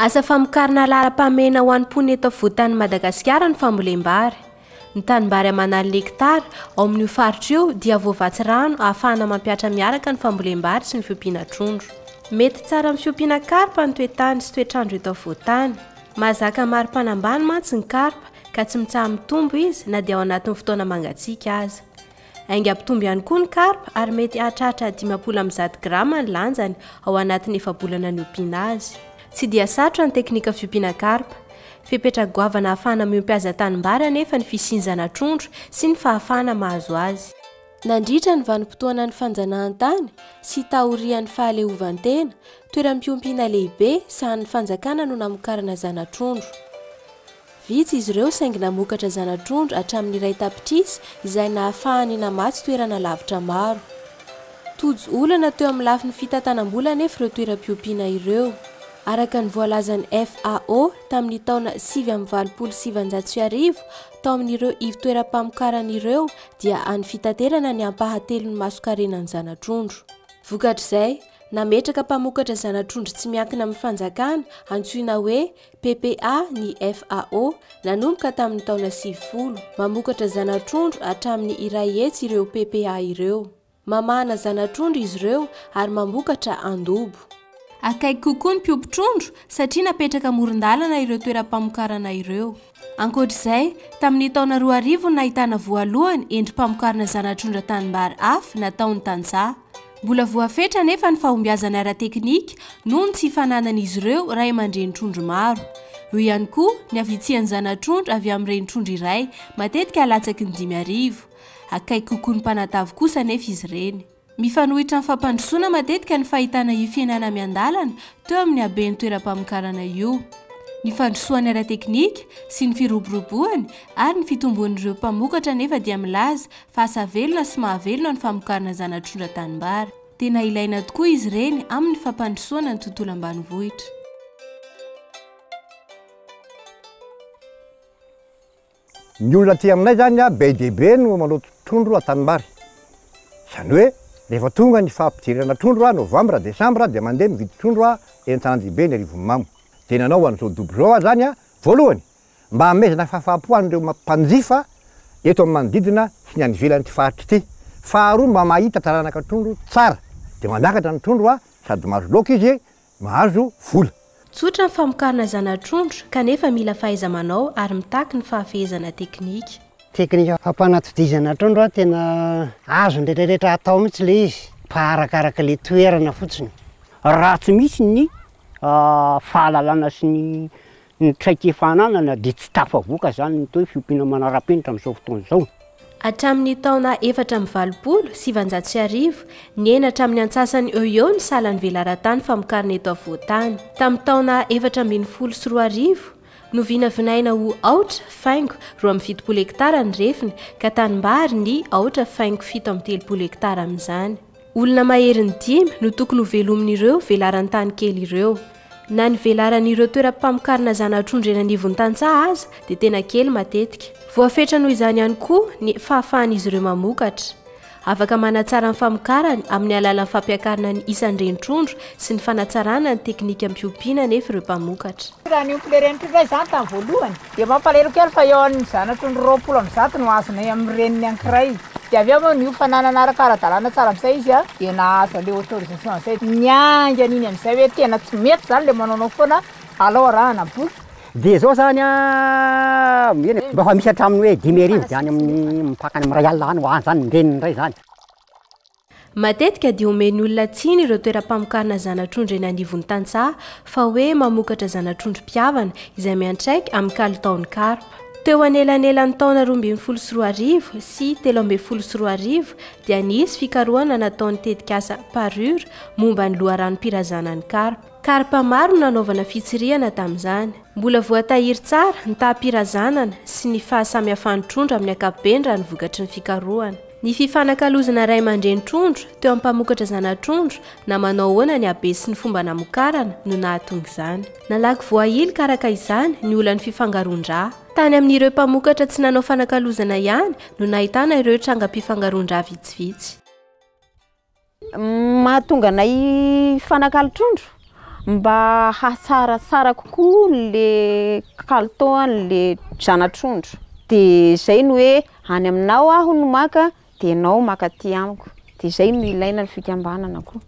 Asa famokarana laharam-pahamehana ho an'ny mponina eto afovoan-tanin'i Madagasikara ny fambolem-bary. Ny tanimbary aman'aliny hekitara ao amin'io faritra io dia voavatsy rano ahafahana mampihatra miaraka ny fambolem-bary sy ny fiompiana trondro. Mety tsara amin'ny fiompiana karpa ny toetany sy toetr'andro eto afovoan-tany. Mahazaka ny maripana ambany mantsy ny karpa ka tsy mitsaha-mitombo izy na dia ao anatin'ny fotoana mangatsiaka aza. Aingam-pitombo ihany koa ny karpa ary mety hahatratra dimampolo amby zato grama ny lanjany ao anatin'ny efa-bolana niompiana azy. Tsy dia sarotra ny teknika fiompiana karpa. Fepetra goavana ahafahana miompy azy an-tanimbary anefa ny fisinzana trondro sy ny fahafahana mahazo azy. Nandritra ny vanim-potoanan'ny fanjanahantany sy taorian'ny fahaleovantena, toeram-piompiana lehibe sahanin'ny fanjakana no namokarana zana-trondro. Vitsy izy ireo saingy namokatra zana-trondro hatramin'ny iray tapitrisa izay nahafahany namatsy toerana lavitra maro. Tojo olana teo amin'ny lafiny fitantanam-bola anefa ireo toeram-piompiana ireo. Araka ny voalazan'ny FAO, tamin'ny taona sivy amby valopolo sy sivanjato sy arivo, tao amin'ireo ivo-toeram-pamokarana ireo dia any fitaterana ny ampahatelon'ny mason-karenan'ny zana-trondro. Vokatr'izay, nametraka mpamokatra zana-trondro tsy miankina amin'ny fanjakana, antsoina hoe PPA, ny FAO, nanomboka tamin'ny taona sivifolo. Mamokatra zana-trondro hatramin'ny iray hetsy ireo PPA ireo. Mamahana zana-trondro izy ireo ary mamokatra andobo. Akaiky kokoa ny mpiompy trondro satria napetraka amoron-dalana ireo toeram-pamokarana ireo. Ankoatra izay, tamin'ny taona roa arivo no nahitana voalohany endri-pamokarana zana-trondro an-tanimbary afy nataon'ny tantsaha. Mbola voafetra anefa ny fahombiazana ara-teknika noho ny tsy fananan'izy ireo ray aman-dreny trondro maro. Eo ihany koa ny havitsian'ny zana-trondro avy amin'ny reni-trondro iray, matetika latsaky ny dimy arivo. Akaiky kokoa ny mpanatavy kosa anefa izy ireny. Mifanohitra amin'ny fampandrosoana matetika ny fahitana io fihenana miandalana teo amin'ny haben'ny toeram-pamokarana io. Ny fandrosoany ara-teknika sy ny firoboroboany ary ny fitombon'ireo mpamokatra anefa dia milaza fa asa velona sy mahavelona ny famokarana zana-trondra tanimbary. Tena ilaina tokoa izy ireny amin'ny fampandrosoana ny tontolo ambanivohitra. Ny olona aty aminay izany be dia be no maloto trondro an-tanimbary. Izany hoe rehefa tonga ny fahampidirana trondro, novambra, desambra, dia mandeha mividy trondro eny an-tanandihibe ny Arivonimamo. Dia nanao an'izao dobo izao aho izany voalohany mba hanomezana fahafaham-po an'ireo mpanjifa eto amin'ny manodidina sy ny any ivelan'ity faritra ity. Faharoa mba mahita taranaka trondro tsara dia mandakatra ny trondro a sady mahazo laoka izy e mahazo vola. Tsotra ny famokarana zana-trondro kanefa mila fahaiza-manao ary mitaky ny fahafehezana teknika. Teknika fampanatodizana trondro a tena azon'ny retraretra atao mihitsy ilay izy fa arakaraka ilay toerana fotsiny. Raha tsy misy ny fahalalana sy ny Ny traikefa ananana dia tsy tafavoaka izany ny atao hoe fiompiana manara-penitra amin'izao fotoana izao. Hatramin'ny taona efatra amby valopolo sy sivanjato sy arivo, nihena hatramin'ny antsasany eo ho eo ny salan'ny velaran-tany famokarana eto afovoan-tany. Tamin'ny taona efatra ambin'ny folo sy roa arivo, novinavinaina ho aotra faingo roa amby fitopolo hektara ny refiny, ka tanimbary ny aotra faingo fito amby telopolo hektara amin'izany. Olona maherin'ny dimy no tokony hovelomin'ireo velaran-tany kely ireo. Na ny velaran'ireo toeram-pamokarana zana-trondro eny anivon'ny tantsaha aza dia tena kely matetika. Voafetra noho izany ihany koa ny fahafahan'izy ireo mamokatra. Afaka manatsara ny famokarany amin'ny alalan'ny fampiakarana ny isan-dren-trondro sy ny fanatsarana ny teknika am-piompiana anefa ireo mpamokatra. Raha ny ompileren'ny trondro izany tamin'ny voalohany Dia mampalahelo kely fa eo amin'ny zanatry ny roapolo amby zato no azonay amin'ny reniny ankiray. Dia avy eo moa niofana nanaraka ara-dalàna tsara amin'izay izy an, dia nahazo an'ilay autorisation izay. Ny angy an'iny amin'izay hoe tena tsy mety izany ilay manaonao foana alao arahana boky. Dia izao izany an, eny e, mba efa misy hatramin'ny hoe dimy arivo dia any amin'ny mipaka any amin'ny iray alina any ho any izany ny reniny indray izany. Matetika dia omen'ny olona tsiny ireo toeram-pamokarana zana-trondro eny anivon'ny tantsaha fa hoe mamokatra zana-trondro mpihavana izay miantraika amin'ny kalitaon'ny karpa. Teo anelanelan'ny taona roa ambin'ny folo sy roa arivo sy telo ambin'ny folo sy roa arivo dia nisy fikarohana nataon'ny tetikasa Parure momba ny loharanom-pirazanan'ny karpa. Karpa maro no nanaovana fitsirihana tamin'izany. Mbola voatahiry tsara ny taham-pirazanana sy ny fahasamihafan'ny trondro amin'ny ankapobeny raha ny vokatry ny fikarohana. Ny fifanakalozana ray aman-dreny trondro teo amin'ny mpamokatra zana-trondro na manao ahoana ny habe sy ny fomba namokarana no nahatonga izany. Nalaky voahilik araka izany ny olan'ny fifangaroan-dra. Tany amin'ireo mpamokatra tsy nanao fanakalozana ihany no nahitana ireo trangam-pifangaroan-dra vitsivitsy. Mahatonga anay hifanakalo trondro mba hahatsaratsara kokoa le kalitaon'le zana-trondro. Dia zay no hoe any aminao aho no maka dia enao maka aty amiko. Dia zay no ilaina ny fikambanana koa.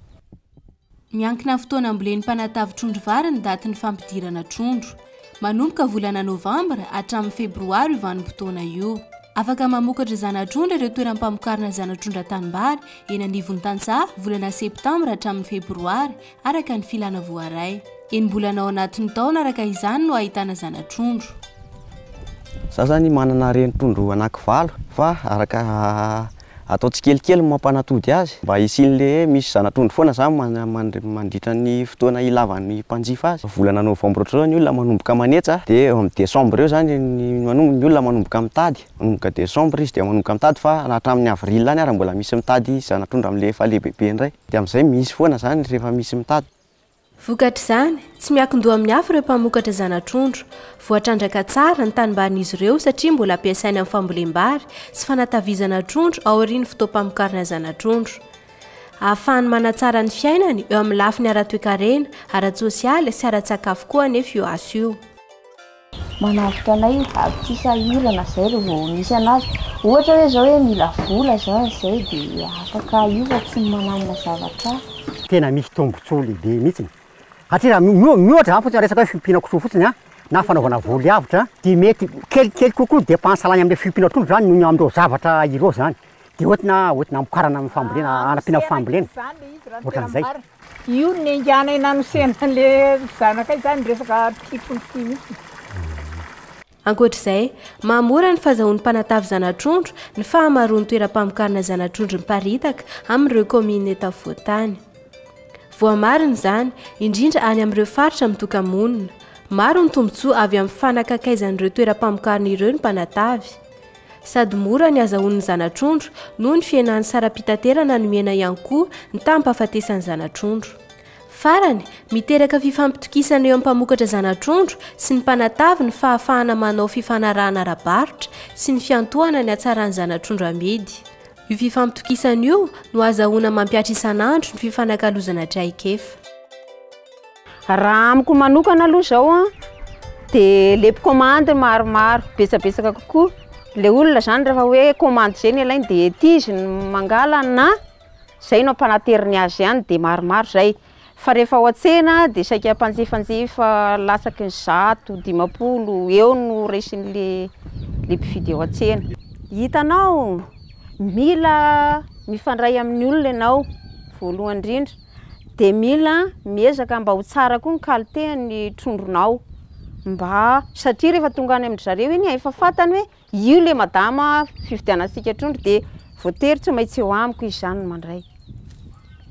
Miankina amin'ny fotoana ambolen'ny mpanatavy trondro vary ny datin'ny fampidirana trondro. Manomboka volana novambra hatramin'ny febroary io vanim-potoana io. Afaka mamokatra zana-trondro ireo toeram-pamokarana zana-trondro an-tanimbary eny anivon'ny tantsaha volana septambra hatramin'ny febroary araka ny filana voaray. Enim-bolana ao anatin'ny taona araka izany no ahitana zana-trondro. Izaho izany manana reni-trondro anaky valo fa araka Atao tsikelikely ny mampanatody azy mba hisian'le hoe misy zana-trondro foana zany mandritra ny fotoana ilavan'ny mpanjifa azy. Volana novambra ohatr'izao ny olona manomboka manetsa dia eo amin'ny desambra eo zany ny ny olona manomboka mitady. Manomboka desambra izy dia manomboka mitady fa na hatramin'ny avril any ary mbola misy mitady zana-trondro amin'le efa lehibebe indray. Dia amin'izay misy foana zany rehefa misy mitady. Vokatr'izany, tsy miankin-doha amin'ny hafa ireo mpamokatra zana-trondro. Voatrandraka tsara ny tanimbarin'izy ireo satria mbola ampiasaina amin'ny fambolem-bary sy fanatavizana trondro aorian'ny fotoam-pamokarana zana-trondro. Ahafahany manatsara ny fiainany eo amin'ny lafiny ara-toekarena, ara-tsosialy sy ara-tsakafo koa anefa io asa io. Manavotra anay avy tsy sahirana izay raha vao misy an'azy. Ohatra hoe izao hoe mila vola izao an'izay dia afaka io fa tsy mananona zavatra hafa. Tena misy tombontsoa lehibe mihitsy satria raha miohatra izany fotsiny resaka hoe fiompiana kisoa fotsiny na fanaovana voly avotra dia mety kelikely kokoa ny depansy lany amin'ilay fiompiana trondro izany noho ny amin'ireo zavatra ireo izany. Dia hoentina hoentina hamokarana ny fambolena hanampiana ny fambolena. Ohatran'izay. Io nenganay nanosena an'ilay zanakay izany resaka mpipolitika mihitsy. Ankoatra izay, maha mora ny fahazahoan'ny mpanatavy zana-trondro ny fahamaroan'ny toeram-pamokarana zana-trondro miparitaka amin'ireo kaominina eto afovoan-tany. Voamarina izany, indrindra any amin'ireo faritra mitoka-monina. Maro ny tombontsoa avy amin'ny fanakakaizan'ireo toeram-pamokarana ireo ny mpanatavy. Sady mora ny azahoan'ny zana-trondro noho ny fihenan'ny saram-pitaterana nomena ihany koa ny taham-pahafatesan'ny zana-trondro. Farany, miteraka fifampitokisana eo amin'ny mpamokatra zana-trondro sy ny mpanatavy ny fahafahana manao fifanarahana ara-barotra sy ny fiantohana ny hatsaran'ny zana-trondro amidy. Io fifampitokisana io no azahoana mampihatra isan'andro ny fifanakalozana traikefa. Raha amiko manokana aloha izao an, dia ilay mpikaomandy no maromaro, betsabetsaka kokoa, ilay olona izany rehefa hoe kaomandy izay no alainy dia ety izy no mangala na izay no ampanateriny azy ihany dia maromaro izay, fa rehefa ao an-tsena dia saika mpanjifanjifa latsaky ny zato, dimampolo eo no raisin'ilay ilay mpividy ao an-tsena. Hitanao, mila mifandray amin'ny olona ianao voalohany indrindra. de mila miezaka mba ho tsara koa ny qualité-n'ny trondronao mba satria rehefa tonga any amin-dry zareo iny efa fantany hoe io le madama fividianantsika trondro de voatery tsy maintsy eo amiko izy zany no mandray.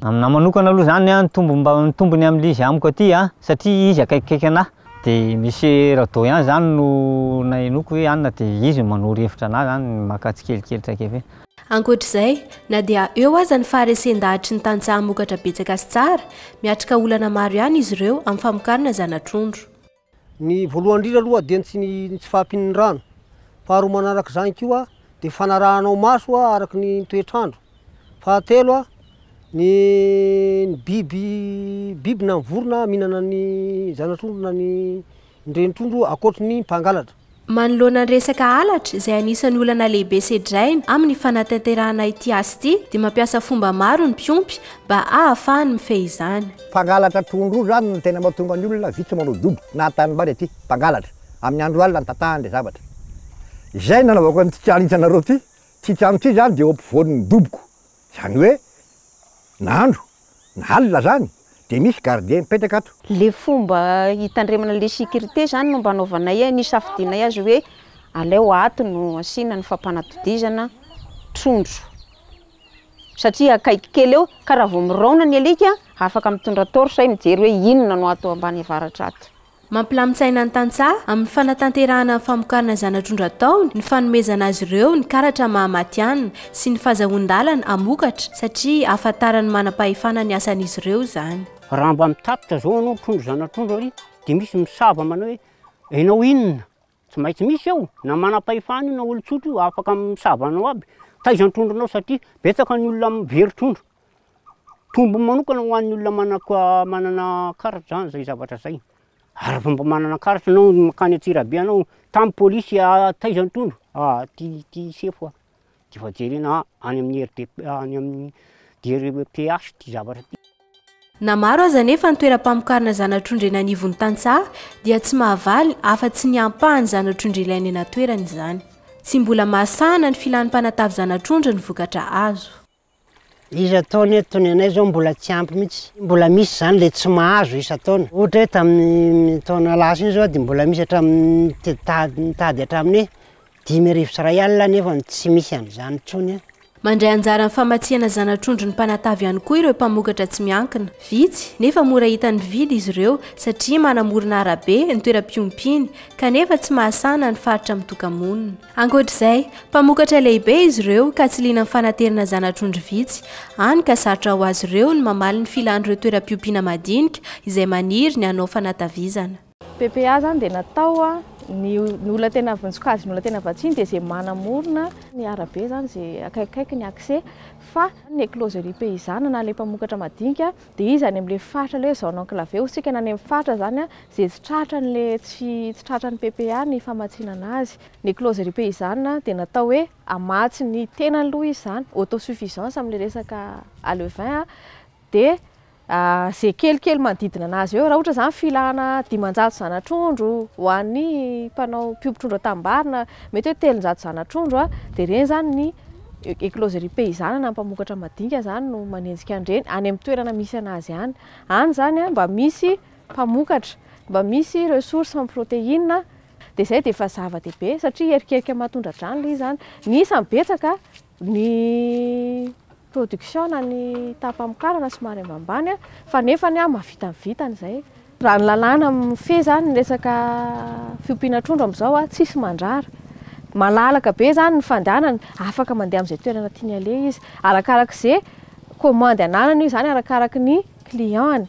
Aminah manokana aloha zany an ny tombony mba ny tombony amin'ilay izy amiko aty an satria izy akaikikaiky anah de misy rado ihany zany no nahenoako hoe anona de izy no manoro hevitra anah zany maka tsikelikely traikefa iny. Ankoatra izay, na dia eo aza ny faharesen-dahatry ny tantsaha hamokatra betsaka sy tsara, miatrika olana maro ihany izy ireo amin'ny famokarana zana-trondro. Ny voalohany indrindra aloha dia ny tsy ny tsy fahampian'ny rano. Faharoa manaraka izany koa dia fanarahanao maso araka ny toetr'andro. Fahatelo, ny biby biby na ny vorona mihinana ny zana-trondro na ny Ndreny trondro akoatry ny mpangalatra. Manoloana ny resaka halatra izay anisan'ny olana lehibe sedraina amin'ny fanatanterahana ity asa ity dia mampiasa fomba maro ny mpiompy mba ahafahany mifehy izany. Mpangalatra trondro io izany no tena mahatonga ny olona vitsy manao dobo na tanimbary aty, mpangalatra, amin'ny andro alina ny tatahany ilay zavatra. Izay no nanaovako an'ity trano hitanareo ity, ity trano ity izany dia eo ampovoan'ny doboko, Zany hoe na andro na alina zany de misy gardien mipetraka ato. Le fomba hitandremana le sécurité zany no mba anaovanay e, nisafidianay azy hoe aleo ato no asiana ny fampanatodizana trondro satria akaiky kely eo ka raha vao miraona ny alika afaka mitondra torche mijery hoe inona no ato ambany avaratra ato. Mampilamin-tsaina ny tantsaha amin'ny fanatanterahana ny famokarana zana-trondro ataony ny fanomezana azy ireo ny karatra maha matihanina sy ny fazahoan-dalana hamokatra satria ahafantaran'ny manam-pahefana ny asan'izy ireo izany. Raha mba mitatitra izao ianao trondro zana-trondro ary dia misy misava manao hoe ianao inona? Tsy maintsy misy eo na manam-pahefana io na olon-tsotra io afaka misava anao aby. Taiza ny trondronao satria betsaka ny olona very trondro. Tombony manokana ho an'ny olona mana- manana karatra zany zay zavatra zay. Ary vao mba manana karatra anao mankany Antsirabe anao, tamy polisy, taiza ny trondro? Aty ty sefo a! de efa jerena any amin'ny RDP any amin'ny DRPH ty zavatra ty. Na maro aza anefa ny toeram-pamokarana zana-trondro eny anivon'ny tantsaha dia tsy mahavaly afa-tsy ny ampahan'ny zana-trondro ilaina eny an-toerana izany. Tsy mbola mahasahana ny filan'ny mpanatavy zana-trondro ny vokatra azo. Isan-taona eto ny anay izao mbola tsy ampy mihitsy. Mbola misy izany ilay tsy mahazo isan-taona. Ohatra hoe tamin'ny taona lasa iny izao dia mbola misy hatramin'ny tady nitady hatramin'ny hoe dimy arivo sy iray alina nefa tsy misy an'izany intsony. Mandray anjara amin'ny famatsiana zana-trondro ny mpanatavy ihany koa ireo mpamokatra tsy miankina. Vitsy, nefa mora hitan'ny mpividy izy ireo satria manamorona arabe ny toeram-piompiany, kanefa tsy mahasahana ny faritra mitoka-monina. Ankoatra izay, mpamokatra lehibe izy ireo ka tsy liana amin'ny fanaterana zana-trondro vitsy, hany ka sarotra ho azy ireo ny mamaly ny filan'ireo toeram-piompiana madinika izay maniry ny hanao fanatavizana. PPA izany dia natao a, ny ny olona tena vonjikajy ny olona tena vatsiny dia izay manamorona ny arabe izany izay akaikikaiky ny accès fa ny closerie paysanne na ilay mpamokatra madinika Dia iza any amin'ilay faritra ilay zone enclavée? Hosikana any amin'ny faritra izany izay tsy tratra an'ilay tsy tsy tratra ny PPA ny famatsiana anazy. Ny closerie paysanne dia natao hoe hamatsy ny tenany aloha izy izany, autosuffisance amin'ilay resaka alevin dia izay kelikely manodidina anazy eo. Raha ohatra izany filana dimanjato zanatrondro ho an'ny mpanao mpiompy trondro an-tanimbary na mety hoe telonjato zanatrondro dia ireny izany ny Ecloserie paysanne na mpamokatra madinika izany no manenjika an'ireny, any amin'ny toerana misy an'azy any. Any izany mba misy mpamokatra, mba misy ireo source en protéine, dia izay dia efa zava-dehibe satria hierikerika maha-tondra-drano ilay izy izany. Ny isany betsaka, ny production na ny taham-pamokarana somary ambanimbany fa nefany mahavita ny vitany izay. Raha ny lalàna mifehy izany ny resaka fiompiana trondro amin'izao, tsy hisy mandrara. Malalaka be izany ny fandehanany, afaka mandeha amin'izay toerana tiany aleha izy. Arakaraka izay kaomandy ananany io izany, arakaraka ny client-ny.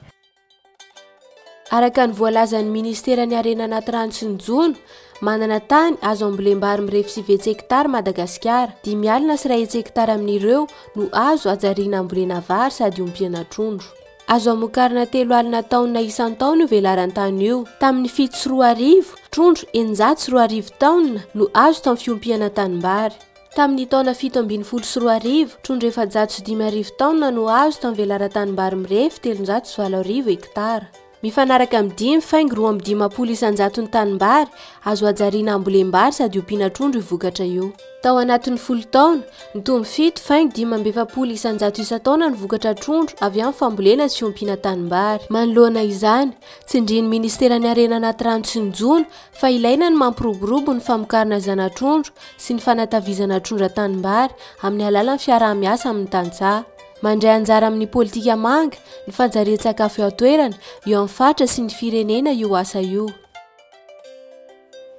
Araka ny voalazan'ny Ministeran'ny Harena Anaty Rano sy ny Jono, manana tany azo ambolem-bary mirefy sivy hetsy-hekitara Madagasikara. Dimy alina sy iray hetsy-hekitara amin'ireo no azo hajariana hambolena vary sady hompiana trondro. Azo amokarana telo alina taonina isan-taona io velaran-tany io. Tamin'ny fito sy roa arivo, trondro eninjato sy roa arivo taonina no azo tamin'ny fiompihana tanimbary. Tamin'ny taona fito ambin'ny folo sy roa arivo, trondro efajato sy dimy arivo taonina no azo tamin'ny velaran-tanimbary mirefy telonjato sy valo arivo hektara. Mifanaraka amin'ny dimy faingo roa amby dimampolo isan-jaton'ny tanimbary azo hajariana hambolem-bary sady ompiana trondro io vokatra io. Tao anatin'ny folo taona, nitombo fito faingo dimy amby efapolo isan-jato isan-taona ny vokatra trondro avy amin'ny fambolena sy ompiana tanimbary. Manoloana izany, tsindrin'ny Ministeran'ny Harena Anaty Rano sy ny Jono fa ilaina ny mampiroborobo ny famokarana zana-trondro sy ny fanatavizana trondro an-tanimbary amin'ny alalan'ny fiaraha-miasa amin'ny tantsaha. Mandray anjara amin'ny politika manga, ny fanjarian-tsakafo eo an-toerana, eo amin'ny faritra sy ny firenena io asa io.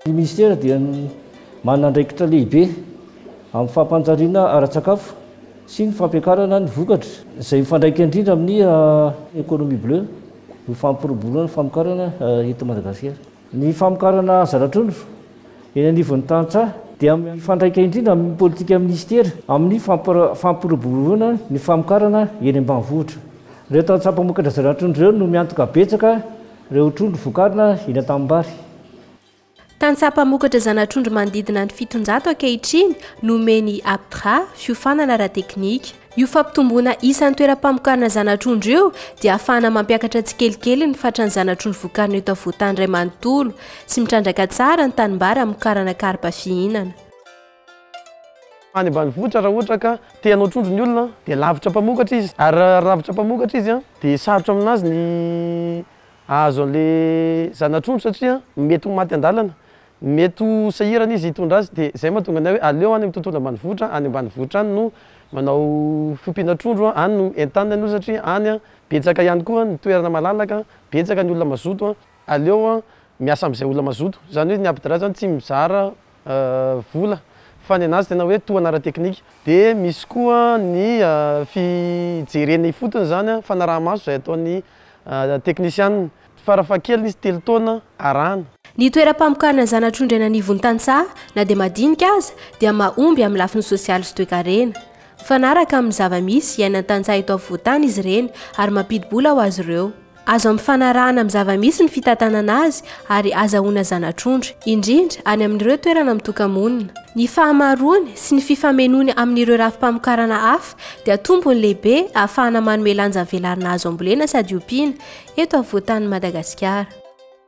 Ny Minisitera dia manana andraikitra lehibe amin'ny fampanjariana ara-tsakafo sy ny fampiakarana ny vokatra, izay mifandraika indrindra amin'ny Economie Bleue, ny fampiroboroana ny famokarana eto Madagasikara. Ny famokarana zana-trondro eny anivon'ny tantsaha dia mifandraika indrindra amin'ny politika Minisitera amin'ny fampiroboroana ny famokarana eny ambanivohitra. Ireo tantsaha mpamokatra zana-trondro ireo no miantoka betsaka, Ireo trondro vokarina eny an-tanimbary. Tantsaha mpamokatra zana-trondro manodidina ny fitonjato ankehitriny no omen'ny APTRA fiofanana ara-teknika. Io fampitomboana isan'ny toeram-pamokarana zana-trondro io dia ahafahana mampiakatra tsikelikely ny fatran'ny zana-trondro vokarina eto afovoan-tany iray manontolo sy mitrandraka tsara ny tanimbary hamokarana karpa fihinana. Any ambanivohitra raha ohatra ka te hanao trondro ny olona dia lavitra mpamokatra izy ary raha lavitra mpamokatra izy dia sarotra aminazy ny ahazo an'ilay zana-trondro satria mety ho maty an-dalana, mety ho sahirana izy hitondra azy dia izay mahatonga ny ahy hoe aleo any amin'ny tontolo ambanivohitra, any ambanivohitra any no manao fiompiana trondro, any no entaniny aloha satria any betsaka ihany koa ny toerana malalaka, betsaka ny olona mazoto, aleo miasa amin'izay olona mazoto, izany hoe ny APDRA izany tsy mizara vola fa ny anazy tena hoe tohana ara-teknika. Dia misy koa ny fijerena ifotony izany, fanaraha-maso izay ataon'ny teknisianina. Farafahakeliny izy telo taona arahana. Ny toeram-pamokarana zana-trondro eny anivon-tantsaha, na dia madinika aza, dia mahomby amin'ny lafiny sosialy sy toekarena. Mifanaraka amin'ny zava-misy iainan'ny tantsaha eto afovoan-tany izy ireny ary mampidi-bola ho azy ireo. Azo ampifanarahana amin'ny zava-misy ny fitantanana azy ary azahoana zana-trondro, indrindra any amin'ireo toerana mitoka-monina. Ny fahamaroany sy ny fifamenoany amin'ireo rafi-pamokarana hafa dia tombony lehibe ahafahana manome lanja velarina azo ambolena sady ompiana eto afovoan-tanin'i Madagasikara.